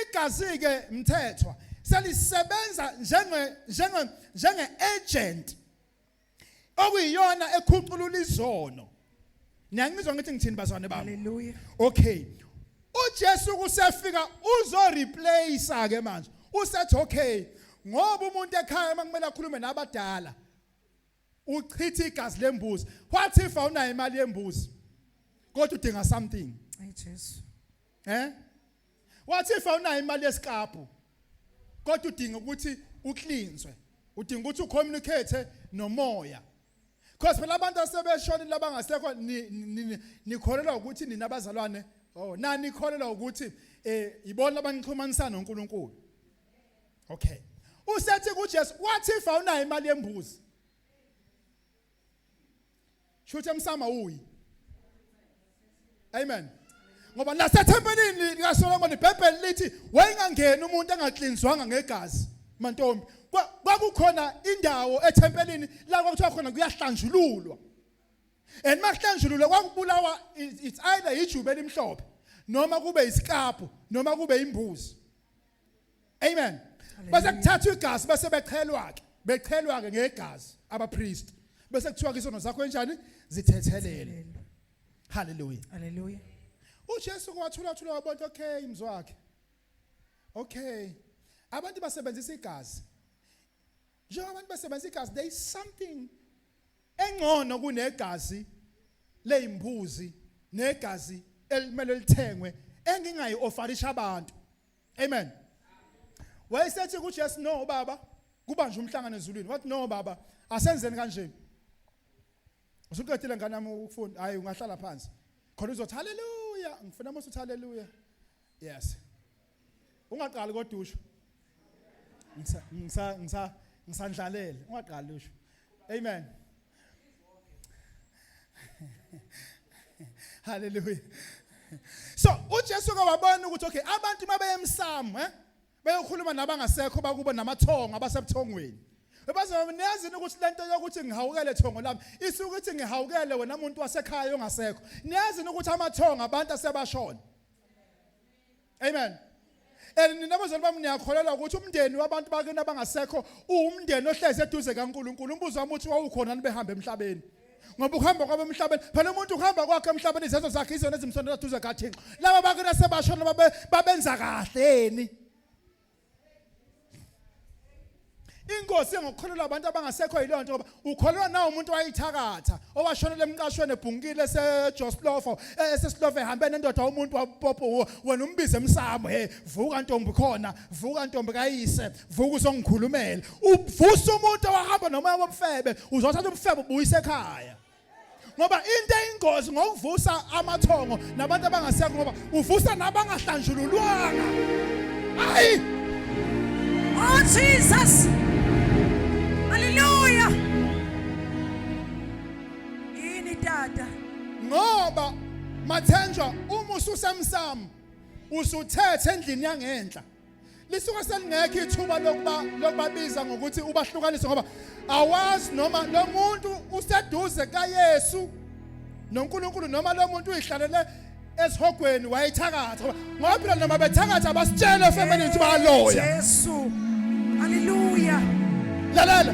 Igazi-ke mthethwa selisebenza njenge njenge njenge agent okuyiyona ekhuculula izono niyangizwa ngithi ngithini bazwane bami haleluya okay uJesu kusefika uzo replace ke manje usethi okay ngoba umuntu ekhaya makumele akhulume nabadala uchitha igazi lembuzi what if awunayo imali yembuzi kodwa udinga something ay Jesu Eh? Wathi if awunayo imali yesikabhu kodwa udinga ukuthi uklinzwe. Udinga ukuthi ucommunicate nomoya. Because phela abantu asebeshonile labangasekho nikholelwa ukuthi nina abazalwane oh nani nikholelwa ukuthi eh yibona abanixhumanisa noNkulunkulu. Okay. Usethi kuJesu wathi if awunayo imali yembuzi Shuthi emsama uyi. Amen. Ngoba nasethempelini lika Solomon iBhayibheli lithi wayengangeni umuntu engaklinzwanga ngegazi mantombi. Kwakukhona indawo ethempelini la kwakuthiwa khona kuyahlanjululwa. And makuhlanjululwa kwakubulawa it's either ijube elimhlophe noma kube isikapho noma kube imbuzi. Amen. Base kuthathwa igazi base bechelwa ke. Bechelwa ke ngegazi abapriest. Bese kuthiwa ke isono zakho enjani? Zithethelele. Hallelujah. Hallelujah. uJesu kwathula thula wabona okay mzwakhe okay abantu basebenzisa igazi njengoba abantu basebenzisa igazi there is something engcono kunegazi leyimbuzi negazi elimele lithengwe engingayi ofarisha abantu amen wayesethi kuJesu no baba kubanje umhlangano ezulwini wathi no baba asenzeni kanje usuqedile ngane yami ukufunda hayi ungahlala phansi khona uzothi haleluya ngifuna mase uthi haleluya yes ungaqali kodwa usho ngisa ngisa ngisandlalele ungaqali usho amen haleluya so ujesu ke wabona ukuthi okay abantu uma beyemsamo eh beyokhuluma nabangasekho bakubo namathongo abasebuthongweni bazonezini ukuthi lento yokuthi ngihawukele thongo lami isuke ukuthi ngihawukele wena muntu wasekhaya ongasekho niyazini ukuthi amathongo abantu asebashona amen and nina bazali bami niyakholelwa ukuthi umndeni wabantu bakini abangasekho uwumndeni ohlezi eduze kaNkuluNkulu umbuzo wami uthi wawukhona nibehambe emhlabeni ngoba ukuhamba kwabo emhlabeni phela umuntu ukuhamba kwakhe emhlabeni izenzo zakhe izona ezimsondela eduze kaThixo laba bakini asebashona babenza kahleni inkosi engokukholelwa abantu abangasekho yileyo nto ngoba ukholelwa nawo umuntu wayithakatha owashonela emqashweni ebhunkile esejoslofo eh, esesilofo ehambe nendoda umuntu wapopo wena umbize emsamo he vuka ntombi khona vuka ntombi kayise vuka uzongikhulumela uvusa umuntu owahamba nomoya wobufebe uzothatha ubufebe ubuyise ekhaya ngoba into eyingozi ngokuvusa amathongo nabantu abangasekho ngoba uvusa nabangahlanjululwanga hayi oh jesus haleluya yini tata ngoba mathenjwa uma ususemsamo usuthethe endlini yangenhla lisuke selingekho ithuba lokuba lokubabiza ngokuthi ubahlukanise ngoba awazi noma lo muntu useduze kaYesu noNkulunkulu noma lo muntu uyihlalele esihogweni wayethakatha ngoba phela noma bethakatha basitshele efemini ukuthi baloya Jesu haleluya lalela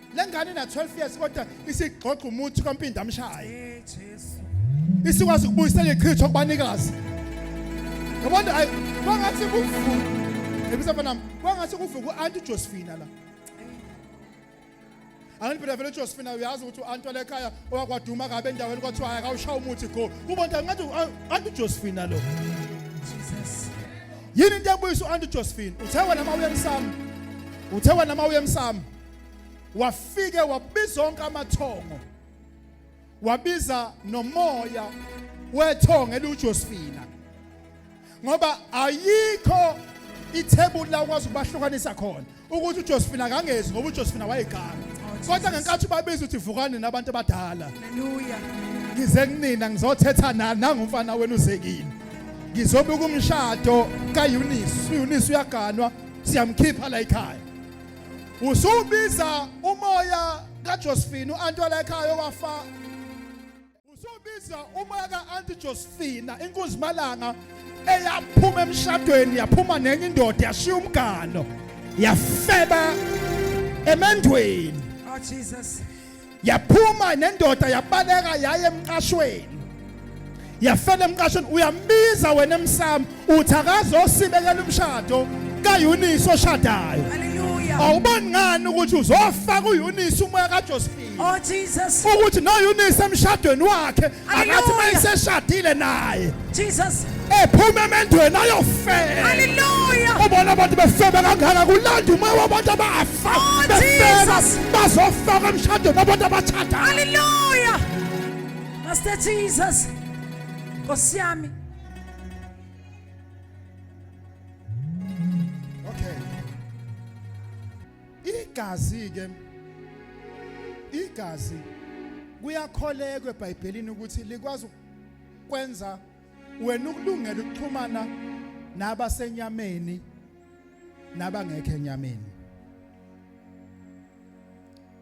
lengane na 12 years kodwa isigxogxa umuthi kwampinda amshaye isikwazi ukubuyisela ichitho kubanikazi yabona ayi kwangathi kuvuka ebisa mfana kwangathi kuvuka uanti uJosephina la angiphela vele uJosephina uyazi ukuthi uanti wale ekhaya owakwaduma kabe endaweni kwathiwa hayi kawushaya umuthi go ubonta ngathi uanti uJosephina lo Jesus yini into ebuyisa uanti uJosephina uthe wena mawuye emsamo uthe wena mawuye emsamo wafike wabiza onke amathongo wabiza nomoya wethongo eliwuJosephina ngoba ayikho ithebuli la ukwazi ukubahlukanisa khona ukuthi uJosephine akangezi ngoba uJosephine wayeganga oh, kodwa ngenkathi ubabiza uthi vukani nabantu abadala haleluya ngize kunina ngizothetha nani nangumfana wenu uzekile ngizobuka umshado kaEunice uEunice uyaganwa siyamkhipha la ekhaya Usubiza umoya kaJosephine uAntwala ekhaya owafa. Usubiza umoya kaAunti Josephine inkunzi malanga eyaphuma emshadweni yaphuma nenye indoda yashiya umgano yafeba emendweni. Oh Jesus. yaphuma nendoda yabaleka yaye emqashweni yafela emqashweni uyambiza wena emsamo uthi akazosibekela umshado kayunisi oshadayo awuboni ngani ukuthi uzofaka uyunisi umoya kajosephine oh, ukuthi noyunisi emshadweni wakhe akathi uma iseshadile naye Jesus ephume emendweni ayofela haleluya ubona abantu befeba kangaka kulanda umoya wabantu abafa oh, befeba bazofaka emshadweni abantu abathatha haleluya master jesus nkosi yami igazi ke igazi kuyakholekwa eBhayibhelini ukuthi likwazi ukwenza wena ukulungela ukuxhumana nabasenyameni nabangekho enyameni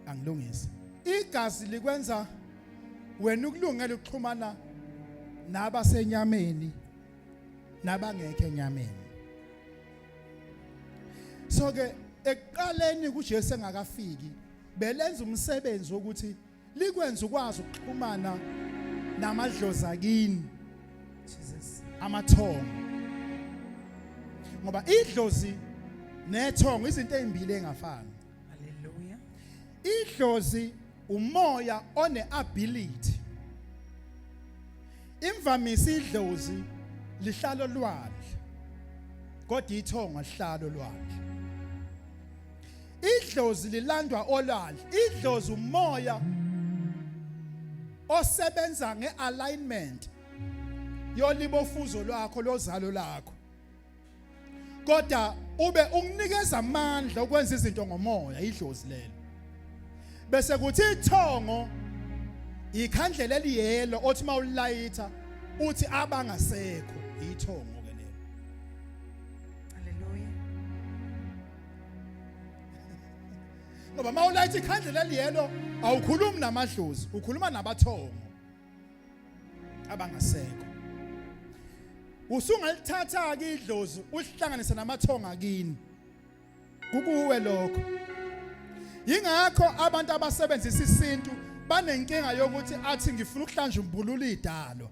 angilungise igazi likwenza wena ukulungela ukuxhumana nabasenyameni nabangekho enyameni so ke ekuqaleni kuJesu engakafiki belenza umsebenzi wokuthi likwenza ukwazi ukuxhumana namadlozi akini Jesus amathongo ngoba idlozi nethongo izinto ezimbili engafani Hallelujah. Idlozi umoya one ability. Imvamisa idlozi lihlalo lwandle. Kodwa ithongo lihlalo lwandle. Idlozi lilandwa olwandle. Idlozi umoya osebenza ngealignment yolibofuzo lwakho lozalo lakho. kodwa ube unginikeza amandla okwenza izinto ngomoya idlozi lelo bese kuthi ithongo ikhandlela eliyelo othi mawulayitha uthi abangasekho ithongo ke lelo haleluya ngoba mawulayitha ikhandlela eliyelo awukhulumi namadlozi ukhuluma nabathongo abangasekho usungalithatha ke idlozi ulihlanganise namathonga kini kukuwe lokho yingakho abantu abasebenzisa isintu banenkinga yokuthi athi ngifuna ukuhlanja umbulula idalo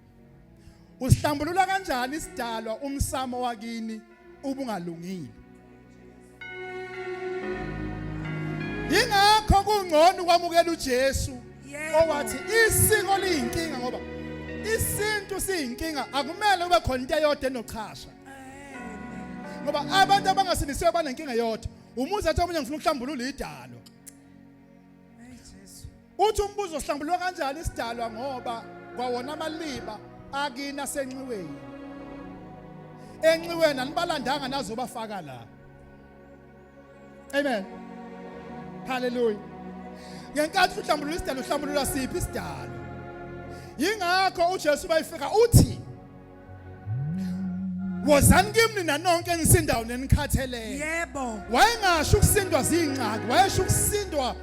Usihlambulula kanjani isidalwa umsamo wakini ubungalungile? Ingakho kungcono ukwamukela uJesu owathi isiko liyinkinga ngoba isintu siyinkinga akumele kube khona into eyodwa enochasha ngoba abantu abangasindisiwe banenkinga yodwa umuzi athi omunye ngifuna ukuhlambulula idalo Uthi umbuzo uhlambulwa kanjani isidalwa ngoba kwawona amaliba akina senxiweni. Enxiweni anibalandanga nazobafaka la. Amen. Hallelujah. Ngenkathi uhlambulula isidalwa uhlambulula siphi isidalwa? Yingakho uJesu bayifika uthi wozani kimi nina nonke enisindayo nenikhatheleyo yebo wayengasho ukusindwa zingxaki wayesho ukusindwa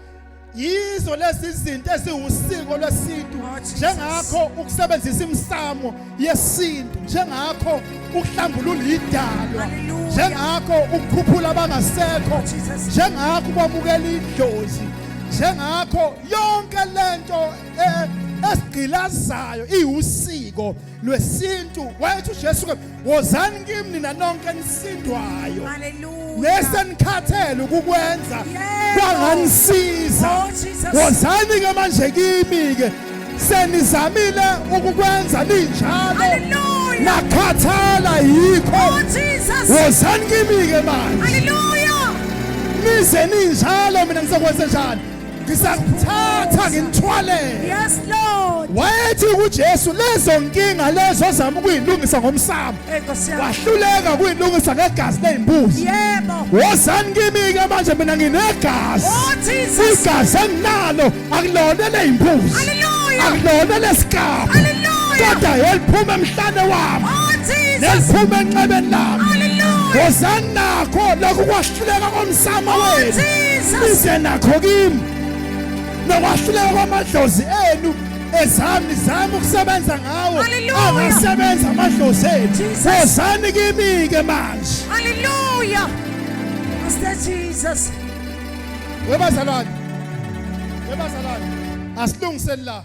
yizo lezi zinto eziwusiko lwesintu Oh, Jesus. njengakho ukusebenzisa imsamo yesintu njengakho ukuhlambulula idalwa Hallelujah. njengakho ukukhuphula abangasekho Jesus. njengakho ukwamukela idlozi njengakho yonke lento eh, esigqilazayo iwusiko lwesintu wayethi uJesu ke wozani kimi nina nonke nisindwayo nesenikhathele ukukwenza kwanganisiza oh, wozani ke manje kimi ke senizamile ukukwenza ninjalo nakhathala yikho oh, wozani kimi ke manje nize ninjalo mina ngizokwenza njani ngisakuthatha ngimthwalele yes lord wayethi kuJesu lezo nkinga lezo ozama ukuyilungisa ngomsamo wahluleka kuyilungisa ngegazi lezimbuzi yebo wozani kimi ke manje mina nginegazi oh, igazi enginalo akulona lezimbuzi haleluya akulona lesikapa haleluya kodwa yeliphuma emhlane wami oh, neliphuma enxebeni lami haleluya wozani nakho lokhu Hluleka komsamo oh, wenu. Size nakho kimi. Nokwahluleka kwamadlozi enu ezami zami ukusebenza ngawo angasebenza amadlozi ethu wozani kimi ke manje haleluya Master Jesus webazalwane webazalwane asilungiseni la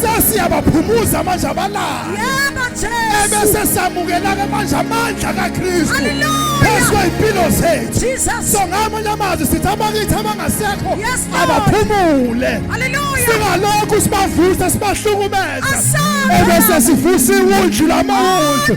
sesiyabaphumuza manje abalala yebo jesu ebese samukela-ke manje amandla kakristu phezu kwey'mpilo zethu so ngamanye amazwi sithi abakithi abangasekho abaphumule singalokhu sibavuse sibahlukumeza ebese sivusa iwundlu lamawundlu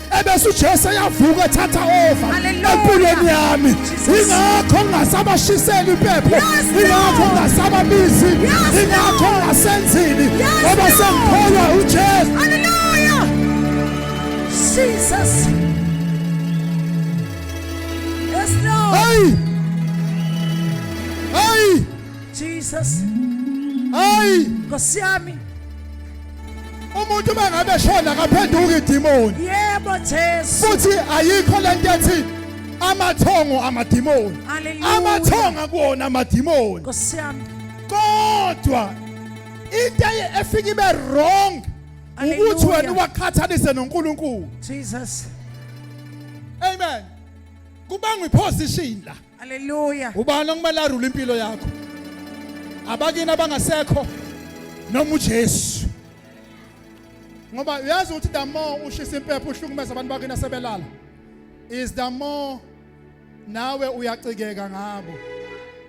ebese uJesu eyavuka ethatha over empilweni yami ingakho ngingasabashiseli impepho ingakho ngingasababizi ingakho ngingasenzini ngoba sengikholwa uJesu haleluya Jesus Yes Lord Hey Hey Jesus Hey Nkosi yami umuntu uma ngabe eshona akaphenduki idimoni yebo jesu futhi ayikho le nto ethi amathongo amadimoni amathongo akuwona amadimoni nkosi yami kodwa into efika ibe wrong ukuthi wena uwaqhathanise noNkulunkulu Jesus amen kubangwa iposition la Haleluya. Ubani okumele arule impilo yakho? Abakini abangasekho noma uJesu. Ngoba uyazi ukuthi the more ushisa impepho uhlukumeza abantu bakini asebelala is the more nawe uyacikeka ngabo.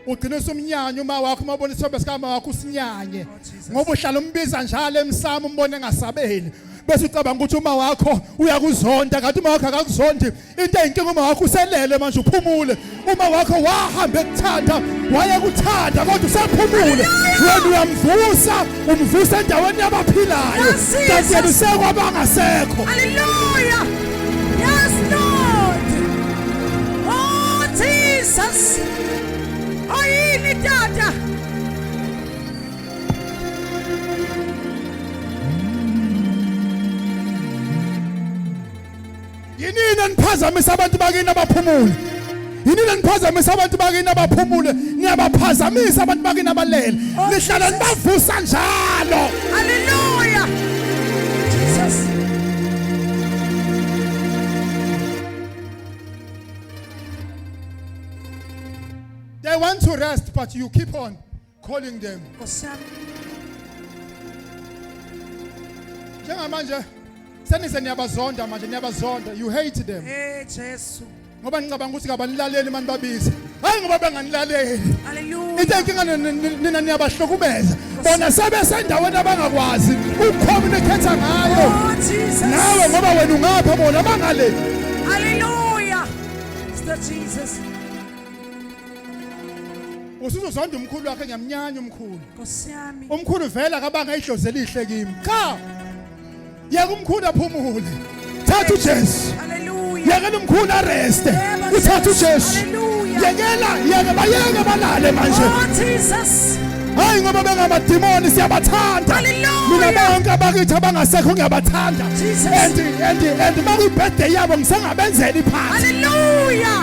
Ugcina usumnyanya uma wakho uma ubona isithombe sikama wakho usinyanye. Oh, Ngoba uhlala umbiza njalo emsamo umbone engasabeli. Bese ucabanga ukuthi uma wakho uyakuzonda kanti uma wakho akakuzondi into eyinkinga uma wakho uselele manje uphumule uma wakho wahamba ekuthanda wayekuthanda kodwa usephumule wena uyamvusa umvusa endaweni yabaphilayo kanti yena usekwabangasekho haleluya yes lord oh jesus oyini tata yinini eniphazamisa abantu bakini abaphumule yinini eniphazamisa abantu bakini abaphumule niyabaphazamisa abantu bakini abalele oh, nihlala nibavusa njalo haleluya jesus they want to rest but you keep on calling them Nkosiyami. njengamanje senise niyabazonda manje niyabazonda you hate them Eh Jesu. ngoba ngicabanga ukuthi kabanilaleli mani babize hayi ngoba benganilaleli Hallelujah. into enkinga ni- ni- ni- nina niyabahlukumeza bona sebesendaweni abangakwazi ukucommunicate ngayo Oh Jesus. nawe ngoba wena ungapha bona bangale Hallelujah. Mr. Jesus. usuzozonda umkhulu wakhe ngiyamnyanya umkhulu Nkosi yami. umkhulu vele akabanga idlozi elihle kimi cha yeka umkhulu aphumule thatha ujesu Hallelujah. yekela umkhulu areste Yebo, uthatha Jesu. ujesu Hallelujah. yekela yeke bayeke balale manje Oh Jesus. hayi ngoba bengamadimoni siyabathanda Hallelujah. mina bonke abakithi abangasekho ngiyabathanda Jesus. and and and uma kuyibirthday yabo ngisengabenzela iphathi Hallelujah.